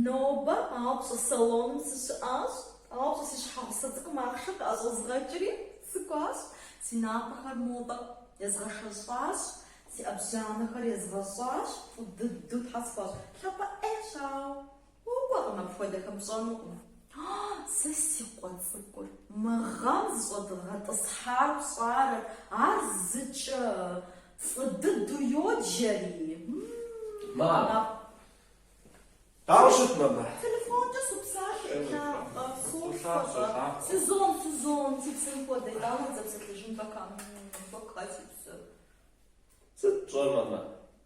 Нобэ къапщӏэ салоным сыщыӏащ, къапщӏэ си щхьэгъусэ цӏыкӏум ахъшэ къыӏэщӏэзгъэкӏри сыкӏуащ, си напӏэхэр модэ езгъэшэщӏащ, си ӏэбжьанэхэр езгъэщӏащ, фӏы дыдэу тхьэ схуащӏ. Лъапӏэ ӏейщ, ауэ Укӏуэкъым апхуэдэхэм пщӏэнукъым. Сэ си къуэ цӏыкӏур, мы гъэм зыщӏэдгъэтӏысхьар пщӏэрэ, ар зыкӏэ фӏы дыдэу йоджэри. Ауэ сыт, мамэ? Телефонкӏэ супсалъэ, Инапӏэ, сопсэкъэ, Сюзон, Сюзон, си псэм хуэдэ, ауэ дызэпсэлъэжын пока, пока си псэр. Сыт пщӏэр, мамэ?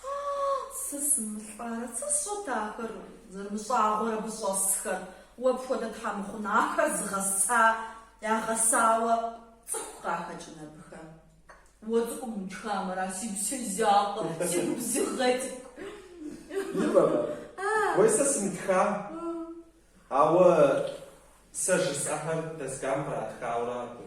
Хъаа, сэ сымылӏарэ, сэ сщӏэт ахэр зэрымыщӏагъуэр абы щӏэсхэр, уэ пхуэдэ тхьэмыхъун ахэр зыгъэса, ягъэсауэ цӏыху къахэкӏын абыхэм. Уэ цӏыкӏум утхам ара си гупсэ закъуэр, си губзыгъэ цӏыкӏу. Имэмэ, уей сэ сымытхам, ауэ сэ жысӏэхэр доскам къратхауэ аракъэ.